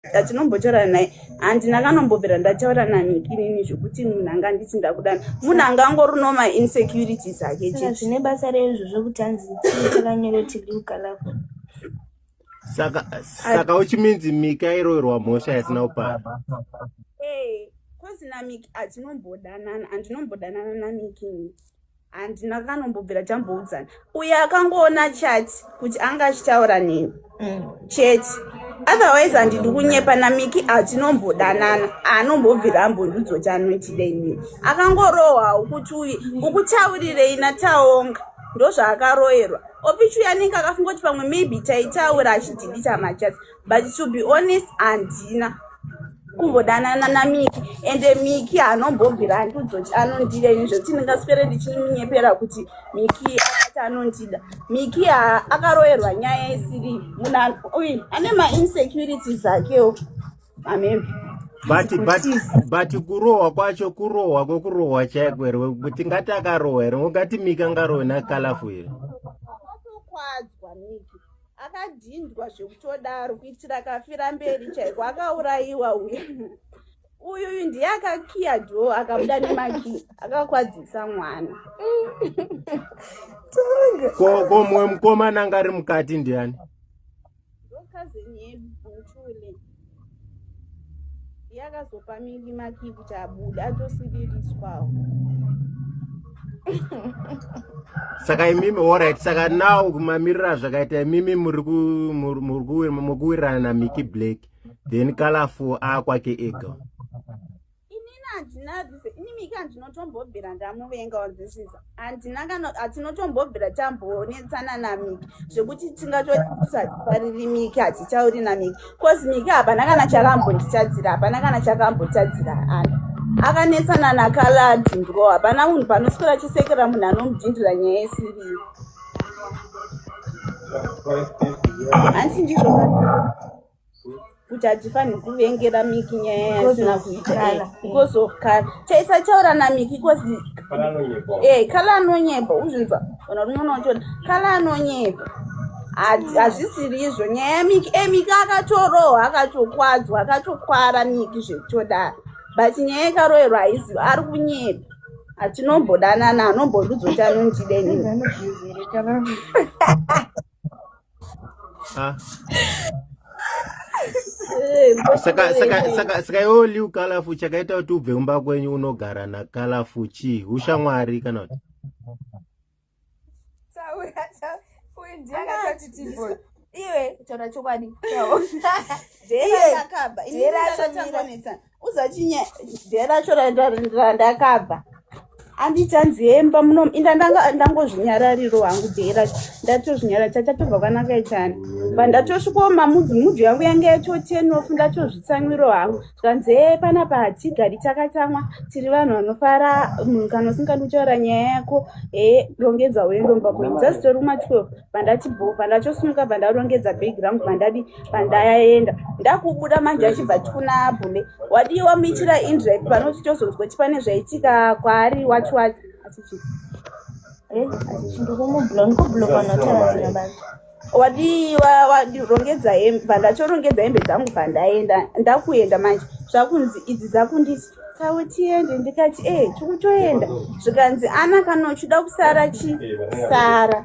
ndatinombotaura naye handi ndakanombobvira ndataura nanikinini zvekuti munhu anga nditi ndakudana munhu anga angori no mainsecurities ake chezvine basa reizvo zvekuti hanzi takanyorotiliukalavo saka saka uchiminzi mika iroirwa mhosha yasina kupara hey, kozi namiki atinombodanana andinombodhanana namikini handina kanombobvira tamboudzana uye akangoona chati kuti anga achitaura nini mm. chete otherwise handidi kunyepa namiki hatinombodanana anombobvira ambondiudzo kuti anoitida inini akangorohwa ukuti uye ukutaurirei nataonga ndozvaakaroerwa opichuya anenge akafunga kuti pamwe maybe taitaura achidhibita machasi but to be honest handina kumbodanana namiki ende miki haanombobvira andiudzoti anondida ini zvekuti ndingaswere ndichiminyepera kuti miki akati anondida miki akaroerwa nyaya isiri munhu ane mainsecurities akewo mameme but but but kurohwa kwacho kurohwa kwokurohwa chaiko here kuti ngati akarohwa here ungati miki angarohwe nakalafo here akadhindwa zvekutodaro kuitira kafira mberi chaiko akaurayiwa uye uyu uyu ndiye akakiya dho akabuda nemaki akakwadzisa mwana ko mumwe mukomana anga ari mukati ndiani ndokazeni yedu yakazopa mimi maki kuti abude atosiririswawo saka imimi orit saka now mamirira zvakaita imimi muri kuwirirana namiki black then kalafu akwake ega inini handina this inimi ka ndinotombobvira ndamuvenga on this is handina kana hatinotombobvira tambonetsana namiki zvekuti tingatotisapariri miki hatichauri namiki bcause miki hapana kana chakambonditadzira hapana kana chakambotadzira ani akanetsana nakaladi ndro hapana munhu panoswera chisekera munhu anomudhindira nyaya yesiriyo hanti ndizvo kuti hatifanirwi kuvengera miki nyaya yasina kuita because of kala chaisachaura namiki because e kala anonyeba uzvinzwa ona rinoona uchona kala anonyeba hazvisiri izvo nyaya yamiki e miki akatorohwa akatokwadzwa akatokwara miki zvekutodaro but nyaya yekaroerwa haiziva ari kunyeba hatinombodanana anombondidzoti anondida inini Ah. saka saka saka saka iwo liu kalafu chakaita kuti ubve kumba kwenyu unogara nakalafu chii ushamwari kana kuti iwe taura chokwadi uzachinye day racho randakabva andichanzi hemba muno inda ndangozvinyarariro hangu day racho ndatozvinyara chachatobva kwanaka ichani but ndatosvikoma mudyu yangu yange yachotenof ndatozvitsamwiro hangu zvikanzi he panapa hatigari chakatsamwa tiri vanhu vanofara munhu kana usingadi kutaura nyaya yako he rongedza uendomba kwenyu dzazitori kuma 12 bandati bho bandachosimuka bandarongedza bhegi rangu bandadi pandayaenda ndakubuda manje achibva chikuna bhume wadii wamuitira indrive pano uchitozonzwa chi pane zvaitika kwaari wacho wacho achichii eh, wadii rongedza hembe pandachorongedza hembe dzangu pandaenda ndakuenda manje zvakunzi idzi dzakundisi kautiende ndikati e eh, tikutoenda zvikanzi ana kana uchida kusara chi sara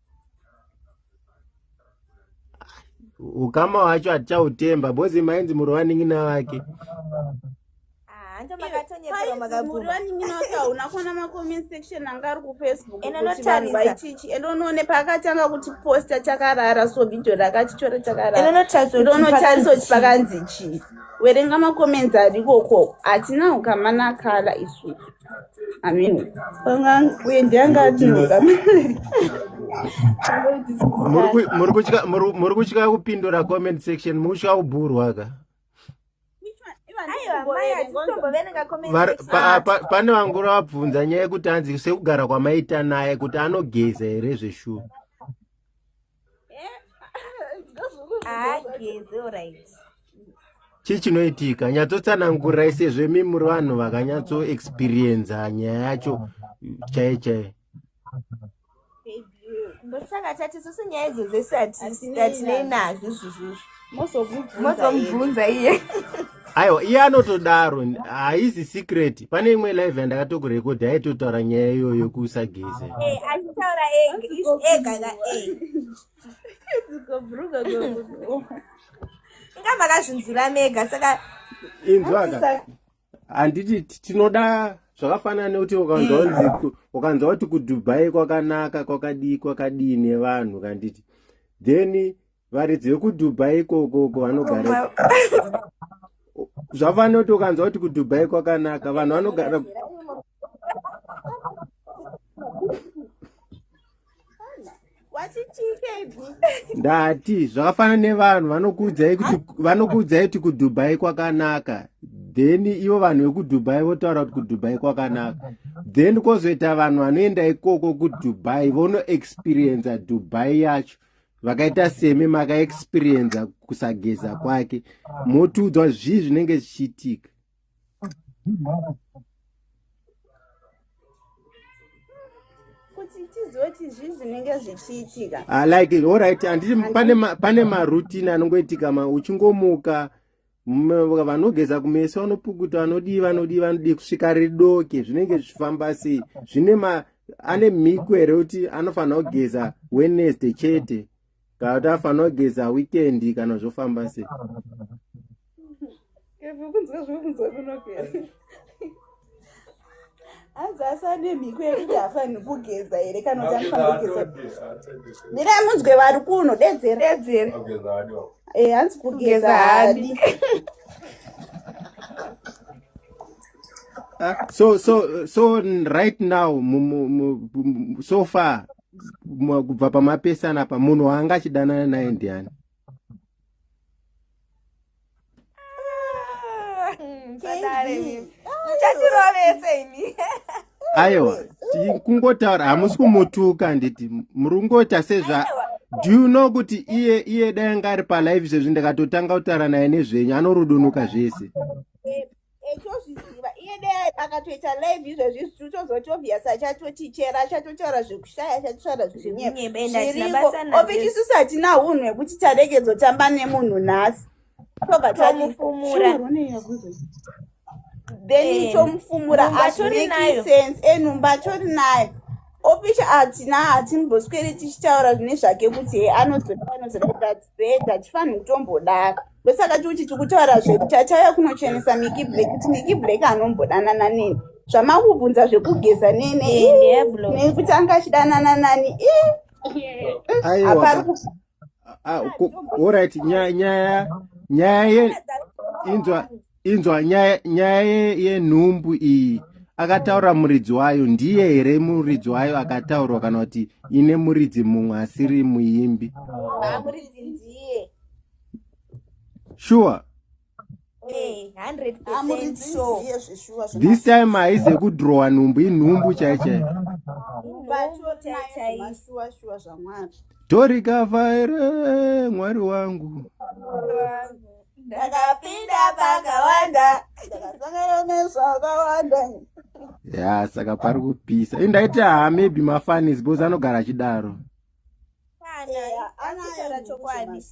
ukama hwacho hatichautemba bozi mainzi muri vanin'ina vake endonoone paakatanga kuti posta chakarara so video rakatichore chakararaonotariswa kuti pakanzi chii werenga makoments arikoko hatina ukamanakala isusu Amen. muri kutya kupindura comment section muri kutya kubhurwa ka pane vangura vabvunza nyaya yekuti anzi sekugara kwamaita naye kuti anogeza here zveshuwa chii chinoitika nyatsotsanangurai sezvo imi muri vanhu vakanyatso experienza nyaya yacho chaiye chaiye ndosaka tati susu nyaya idzo dzese hatinei nazvo izvozvozvo mozomubvunza iye aiwa iye anotodaro haizi secret pane imwe live yandakatokurekodhi aitotaura nyaya iyoyo yokusageze eh, achitaura ega ka inga makazvinzwira mega saka inzwaka handiti tinoda zvakafanana nekuti ukanzwanzi eh. ukanzwa kuti kudubai kwakanaka kwakadii kwakadii nevanhu kanditi then varidzi vekudubai ikoko uko vanogara zvafanoti ukanzwa kuti kudubai kwakanaka vanhu vanogara ndati zvakafanana nevanhu vanokuudzai kuti vanokuudzai kuti kudubai kwakanaka then ivo vanhu vekudubai votaura kuti kudubai kwakanaka then kwozoita vanhu vanoenda ikoko kudubai vonoexperienca dubai yacho vakaita semi makaexperienza kusageza kwake motiudzwa zvii zvinenge zvichiitika ah, like orit anditi pane marutin anongoitika uchingomuka vanogeza kumeso vanopukuta vanodii vanodii vanodii kusvika ridoke zvinenge zvichifamba sei zvine ma ane mhiko here kuti anofanira kugeza wednesday chete kana kuti anofanira kugeza weekend kana zvofamba sei hanzi asane mhiko yekuti hafanhi kugeza here kana kuti anofanira kugeza mira munzwe vari kuno dedzere dedzere e hanzi kugeza hadi ah, so so so right now so far kubva pamapesana apa munhu waanga achidanana naye ndiani aiwa kungotaura hamusi kumutuka handiti muri kungoita sezva do you know kuti iye iye dai anga ari palive izvezvi ndikatotanga kutaura naye nezvenyu anorudunuka zvese echozviziva iye de akatoita live izvezvi zvichitozoti obvious achatotichera achatotaura zvekushaya achatotaura zvekunyebeovichisusu hatina unhu hwekuti taregedzotamba nemunhu nhasi tobva tamufumura then eh, tomufumura azvimake sense enhumba eh, atori nayo ofici hatina hatimboswere tichitaura zvine zvake kuti he anozoda anozoda kuti atibetter tifanirwa kutombodaka ndosaka tiri kuti tiri kutaura zvedu tatauya kunochenesa miki black kuti miki black anombodanana neni zvamakubvunza zvekugeza nene nekuti anga achidanana nani orit nyaya nyaya inzwa inzwa nyaya yenhumbu iyi akataura muridzi wayo ndiye here muridzi wayo akataurwa kana kuti ine muridzi mumwe asiri muimbi ah, sure eh, this time haizi yekudrowa nhumbu inhumbu chai chai torikavha here mwari wangu ndakapinda pakawanda ndakasangana nezvakawanda ya saka pari kupisa indaita haa maybe mafanis bcause anogara achidaro anataura chokwadi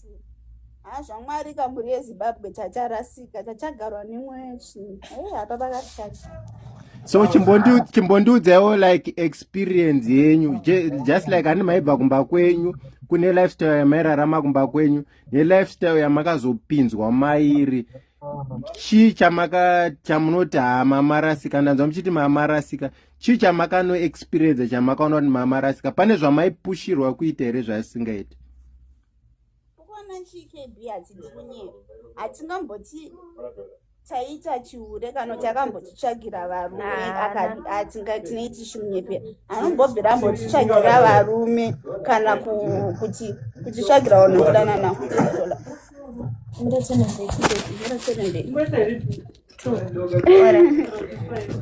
haa zvamwari kamhuri yezimbabwe chacharasika chachagarwa nemwe chii hapa pakatikacha so chimbondiudzaiwo like experience yenyu just like ani maibva kumba kwenyu kune lifestyle yamairarama kumba kwenyu nelifestyle yamakazopinzwa mairi chii chamaka chamunoti hamamarasikana nzwa muchiti mamarasika chii chamakano experience chamakaona kuti mama rasika pane zvamaipushirwa kuita here zvaisingaiti kuona chikb hachitinye hatingamboti taita chiure kana kuti akambotitsvagira varume atingatinoiti chimunyepe anombobvira ambotitsvagira varume kana kuti kutitsvagira vanhu kudanana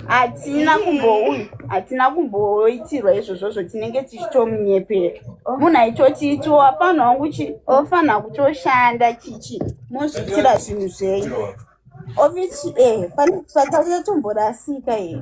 hatina kumbouyi hatina kumboitirwa izvozvozvo tinenge tichitomunyepera oh. munhu aitotiiti wapano wangu chi ofanira kutoshanda chichi mozviitira zvinhu zvenyu ovichi e eh, patakuya tomborasika ii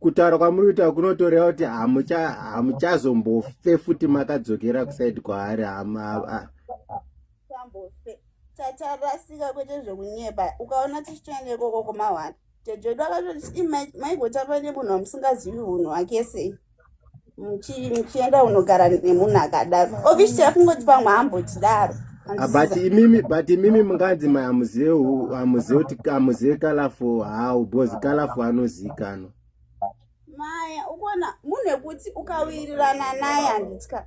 kutaura kwamuri kuita kunotoreva kuti hamuchazombofe futi makadzokera kusaidi kwaari hama tatarasika kwete zvekunyeba ukaona tichitoenda ikoko kumahwani jejedu akatoti maigotaura nemunhu wamusingazivi unhu hwake sei muchienda unogara nemunhu akadaro obviously akungoti pamwe ambochidaro ah, but imimi but imimi munganzi mai hamuzive hamuzive kuti hamuzive kalafo how because kalafo anozikanwa maya ukuona munhu ekuti ukawirirana naye handitya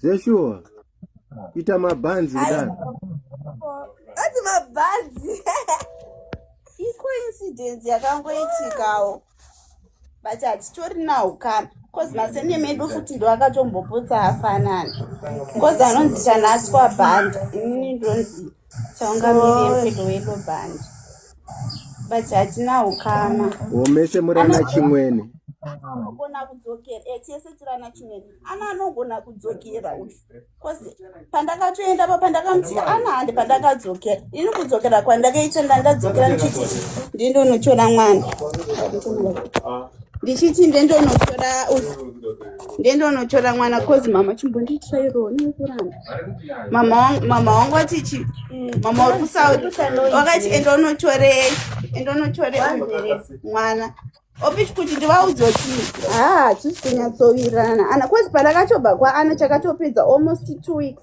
zveshuwa ita mabhanzi kudaro ati mabhanzi icoincidence yakangoitikawo but hatitorinawo kana bcause masene medu futi ndo akatombopotsa afanana bcause anonzi chanaswa bhanda inini ndonzi homese murana chimwene anogona kudzokera eh, chese chirana chimene ana anogona kudzokera uyu bcause pandakatoenda pa pandakamuti ana handi pandakadzokera ini kudzokera kwandakaita ndandadzokera ndichiti ndindonotora mwana ndichiti ndindonotora uyu ndiende unotora mwana cause mama chimbonditirairoo nekuramba mama wangu ati chi mama uri kusouth wakati enda unotore enda unotore mwana opichi kuti ndivaudze kuti haa hatisi kunyatsowirirana ana cause pandakatobva kwaana chakatopedza almost two weeks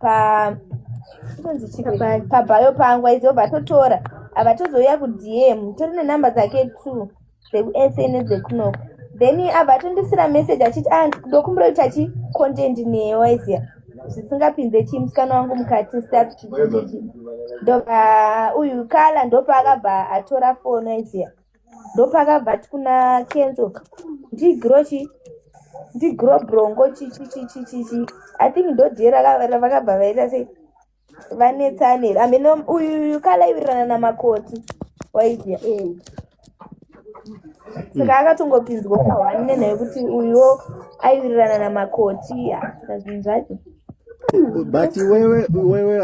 pa pabhayo pangu aizobva totora ava tozouya kudm tori nenumber dzake two dzekusa nedzekunoko then abva atondisira message achiti a ah, ndokumbira kuita chi content neye waiziya zvisingapinze chi musikana wangu mukati staf chiii ndobva uyu kala ndopaakabva atora foni waiziya ndopakabva ti kuna kenzo ndigro chi ndigro brongo chichichichichichi i think ndodie vakabva vaita sei vanetsane amene uyuyu kalaiwirirana namakoti waizia eh. saka mm. akatongopinzwa pahwanine naye kuti uyuwo aiwirirana namakoti asika zvinhu zvacho but wewe wewe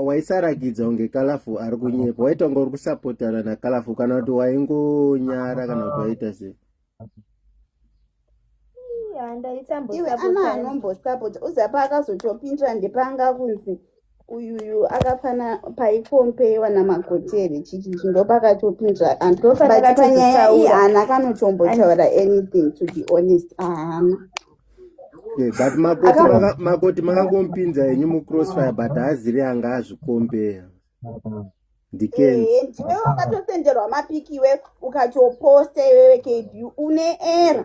waisarakidza kunge kalafu ari kunyepa waitonga uri kusapotana nakalafu kana kuti waingonyara kana kuti waita sei iwe ana anombosapota uzapa akazotopindira ndepanga kunzi uyuyu akafana paikompeyiwa namagotere chichi chindopakatopindira andopakatopanyaya iyi haana kanotombotaura anything to be honest haana Eh, but makoti makangomupinza henyu mucrossfire but haaziri anga azvikombeya ndikenziwe eh, wakatotenderwa mapiki iwe ukatoposta iwewe kb une era